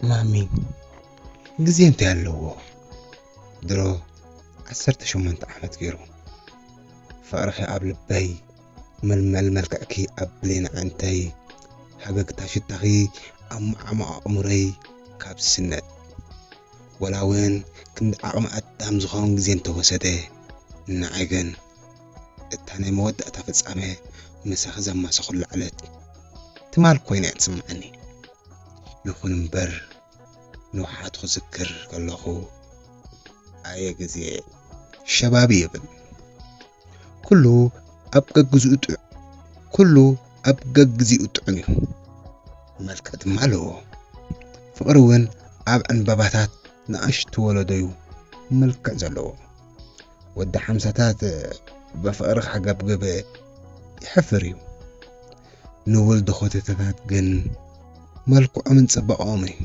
ማሚ ግዜ እንታይ ኣለዎ ድሮ ዓሰርተ ሸሞንተ ዓመት ገይሩ ፍቕርኺ ኣብ ልበይ መልመል መልክዕኪ ኣብ ብሌን ኣዕንተይ ሃገግታ ሽታኺ ኣብ መዓሙቕ ኣእምሮይ ካብ ዝስነድ ወላ እውን ክንዲ ዓቕሚ ኣዳም ዝኾን ግዜ እንተወሰደ ንዓይ ግን እታ ናይ መወዳእታ ፍጻመ ምሳኺ ዘማሰኹሉ ዕለት ትማል ኮይና እያ ትስምዓኒ። ይኹን እምበር ንውሓቱ ክዝክር ከለኹ ኣየ ግዜ ሸባቢ ይብል ኩሉ ኣብ ገግዚኡ ጥዑም ኩሉ ኣብ ገግዚኡ ጥዑም እዩ መልክዕ ድማ ኣለዎ ፍቕሪ እውን ኣብ ዕንበባታት ንኣሽቱ ወለዶዩ መልክዕ ዘለዎ ወዲ ሓምሳታት ብፍቕሪ ክሕገብግብ ይሕፍር እዩ። ንውልድ ኾተተታት ግን መልክዖምን ጽባቐኦም እዩ።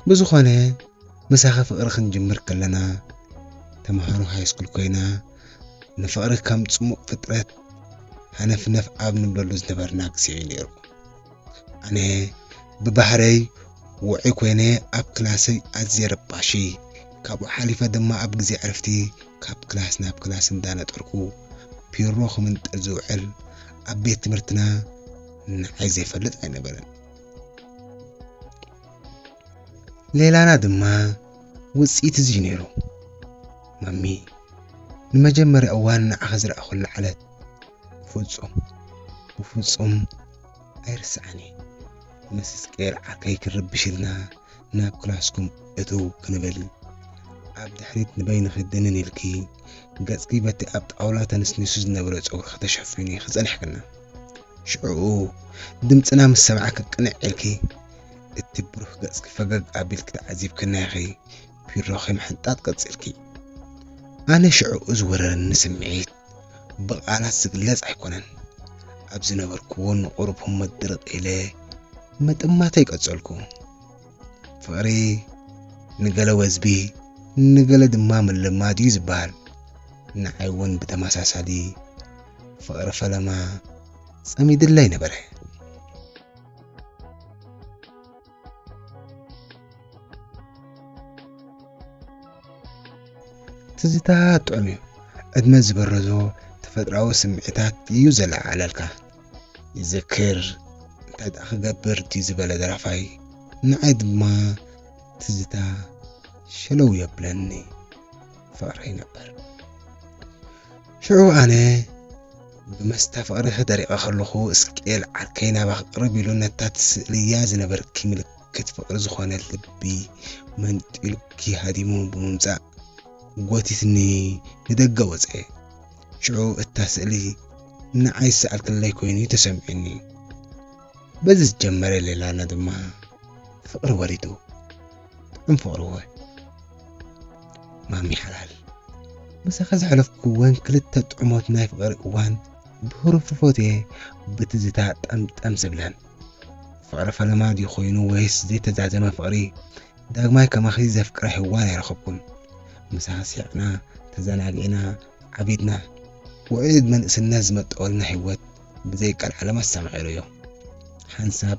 ብዝኾነ ምሳኺ ፍቕሪ ክንጅምር ከለና ተምሃሮ ሃይስኩል ኮይና ንፍቕሪ ከም ጽሙቕ ፍጥረት ሃነፍነፍ ኣብ ንብለሉ ዝነበርና ግዜ እዩ ነይሩ። ኣነ ብባህረይ ውዑይ ኮይነ ኣብ ክላሰይ ኣዝየ ረባሺ ካብኡ ሓሊፈ ድማ ኣብ ግዜ ዕረፍቲ ካብ ክላስ ናብ ክላስ እንዳነጠርኩ ፒሮ ክምንጥር ዝውዕል ኣብ ቤት ትምህርትና ንዓይ ዘይፈልጥ ኣይነበረን ሌላና ድማ ውፅኢት እዚ እዩ ነይሩ ማሚ ንመጀመርያ እዋን ንዓኺ ዝረኣኹሉ ዓለት ፍጹም ብፍጹም ኣይርስዓን እየ ምስ ስቄርዓ ከይክርብሽ ኢልና ናብ ክላስኩም እትው ክንብል ኣብ ድሕሪት ንበይንኺ ድንን ኢልኪ ገጽኪ በቲ ኣብ ጣውላ ተንስኒሱ ዝነበረ ጸጉርኺ ተሸፊኑ ኢኺ ጸኒሕክና ሽዑኡ ድምጽና ምስ ሰማዕኪ ቅንዕ ኢልኪ እቲ ብሩህ ገጽኪ ፈገግ ኣቢልኪ ተዓዚብክና ኢኺ ቢሮኺ ምሕንጣጥ ቀጺልኪ ኣነ ሽዑኡ ዝወረረኒ ስምዒት ብቃላት ዝግለጽ ኣይኮነን። ኣብ ዝነበርክዎ ንቑሩብ ህሞት ድርቕ ኢለ ምጥማተይ ቀጸልኩ። ፍቕሪ ንገለ ወዝቢ ንገለ ድማ ምልማድ እዩ ዝበሃል። ንዓይ እውን ብተመሳሳሊ ፍቕሪ ፈለማ ጸሚድለይ ነበረ። ትዝታ ጥዑም እዩ ዕድመ ዝበረዞ ተፈጥራዊ ስምዒታት እዩ ዘለዓዓለልካ ይዘክር እንታይ ደኣ ክገብር ድዩ ዝበለ ደራፋይ ንዓይ ድማ ትዝታ ሸለው የብለኒ ፍቕረይ ነበር። ሽዑ ኣነ ብመስተ ፍቕሪ ተደሪቐ ከለኹ እስቄል ዓርከይ ናባኺ ቅርብ ኢሉ ነታ ትስእልያ ዝነበርኪ ምልክት ፍቕሪ ዝኾነ ልቢ መንጢሉኪ ሃዲሙ ብምምጻእ ጎቲትኒ ንደገ ወጸ። ሽዑ እታ ስእሊ ንዓይ ዝሰኣልክለይ ኮይኑ እዩ ተሰሚዑኒ። በዚ ዝጀመረ ሌላና ድማ ፍቕሪ ወሪዱ። እንፎቕሮ ማሚ ሓላል ምሳኻ ዘሕለፍኩ እወን ክልተ ጥዑሞት ናይ ፍቕሪ እዋን ብህሩፍሩፎት እየ ብትዝታ ጠምጠም ዝብለን ፍቕሪ ፈለማ ድዩ ኮይኑ ወይስ ዘይተዛዘመ ፍቕሪ ዳግማይ ከማኺ ዘፍቅረ ህዋን ኣይረኸብኩን ምሳኻ ሲዕና ተዘናጊዕና ዓቢድና ውዕል መንእስነት ዝመጠወልና ህይወት ብዘይቃል ዓለም ኣሰማዒሩ እዩ ሓንሳብ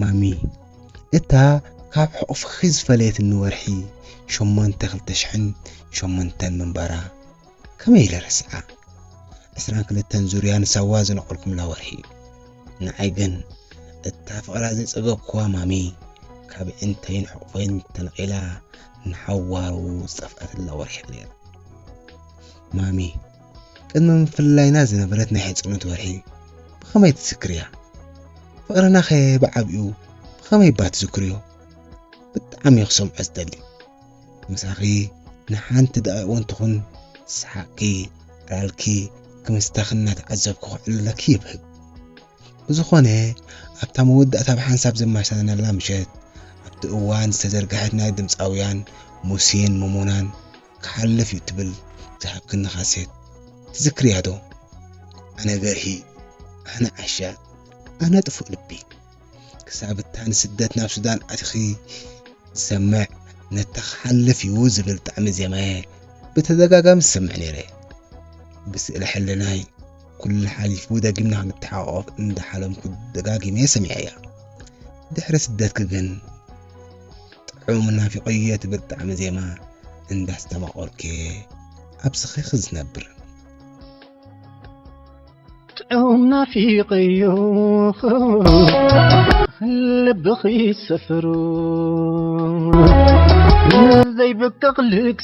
ማሚ እታ ካብ ሕቑፍኺ ዝፈለየትኒ ወርሒ ሸሞንተ ክልተ ሽሕን ሸሞንተን ምንባራ ከመይ ኢለ ረስዓ ዕስራን ክልተን ዙርያ ንሳዋ ዝነቐልኩምላ ወርሒ ንዓይ ግን እታ ፍቕራ ዘይጸገብኩዋ ማሚ ካብ ዕንተይን ሕቑፈይን ተነቒላ ንሓዋሩ ዝጠፍኣትላ ወርሒ ነይራ ማሚ ቅድሚ ምፍልላይና ዝነበረት ናይ ሕጽኖት ወርሒ ብኸመይ ትዝክርያ? ፍቕርናኸ ብዓቢኡ ብኸመይ'ባ ትዝክርዮ? ብጣዕሚ'የ ክሰምዖ ዝደሊ። ምሳኺ ንሓንቲ ደቒቕ'ውን ትኹን ሰሓቕኪ፣ ራልኪ፣ ክምስታኺ እናተዓዘብኩ ከዕልለኪ ይብህግ። ብዝኾነ ኣብታ መወዳእታ ብሓንሳብ ዘማሻናላ ምሸት ኣብቲ እዋን ዝተዘርግሐት ናይ ድምጻውያን ሙሴን ሞሞናን ክሓልፍ እዩ ትብል ዝሃብክኒ ካሴት ትዝክርያ ዶ ኣነ ገርሂ ኣነ ዓሻ ኣነ ጥፉእ ልቢ ክሳብ እታ ንስደት ናብ ሱዳን ኣቲኺ ዝሰምዕ ነታ ክሓልፍ እዩ ዝብል ጣዕሚ ዜማየ ብተደጋጋሚ ዝሰምዕ ነይረ ብስእለ ሕልናይ ኩሉ ሓሊፉ ደጊምና ክንተሓቆፍ እንዳሓለምኩ ደጋጊመ ሰሚዐያ ድሕሪ ስደትኪ ግን ጥዑም ናፊቆየ ትብል ጣዕሚ ዜማ እንዳስተማቆርኬ ኣብ ስኺኺ ዝነብር ጥዑም ናፊቀዮ ልብኺ ሰፍሩ ዘይብቅቕ ልግሲ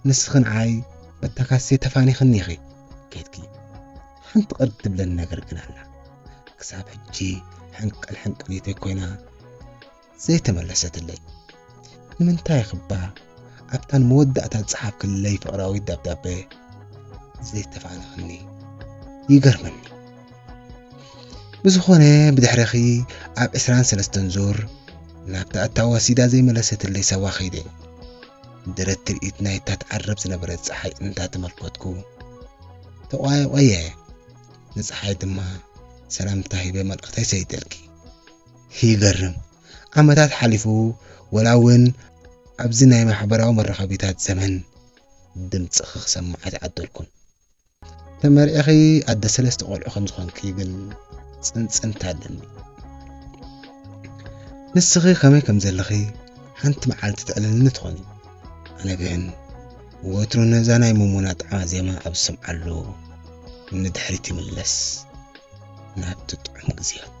ንስኺ ንዓይ በታ ካሴት ተፋኒኽኒ ኢኺ ኬድኪ። ሓንቲ ቅር ትብለኒ ነገር ግን ኣላ። ክሳብ ሕጂ ሕንቅል ሕንቅሊተይ ኮይና ዘይተመለሰትለይ። ንምንታይ ኢኺ'ባ ኣብታ ንመወዳእታ ዝጸሓፍክለይ ፍቕራዊት ደብዳበ ዘይተፋንኽኒ? ይገርመኒ። ብዝኾነ ብድሕረኺ ኣብ ዕስራን ሰለስተን ዙር ናብታ እታ ወሲዳ ዘይመለሰትለይ ሰባ ከይደ። ንደረት ትርኢት ናይታ ትዓርብ ዝነበረት ጸሓይ እንታተመልከትኩ ተቋየቆየ ንጸሓይ ድማ ሰላምታ ሂበ መልእኽተይ ሰይደልኪ ይገርም ዓመታት ሓሊፉ ወላ እውን ኣብዚ ናይ ማሕበራዊ መራኸቢታት ዘመን ድምፅኺ ክሰማዕ ኣይተዓደልኩን። ተመርዒኺ ኣደ ሰለስተ ቆልዑ ከም ዝኾንኪ ግን ጽንጽንታ ኣለኒ። ንስኺ ከመይ ከም ዘለኺ ሓንቲ መዓልቲ ተዕልልኒ ትኾኒ። ኣነ ግን ወትሩ ነዛ ናይ መሞና ጣዕማ ዜማ ኣብ ዝሰምዓሉ ንድሕሪት ይምለስ ናብቲ ጥዑም ግዜያት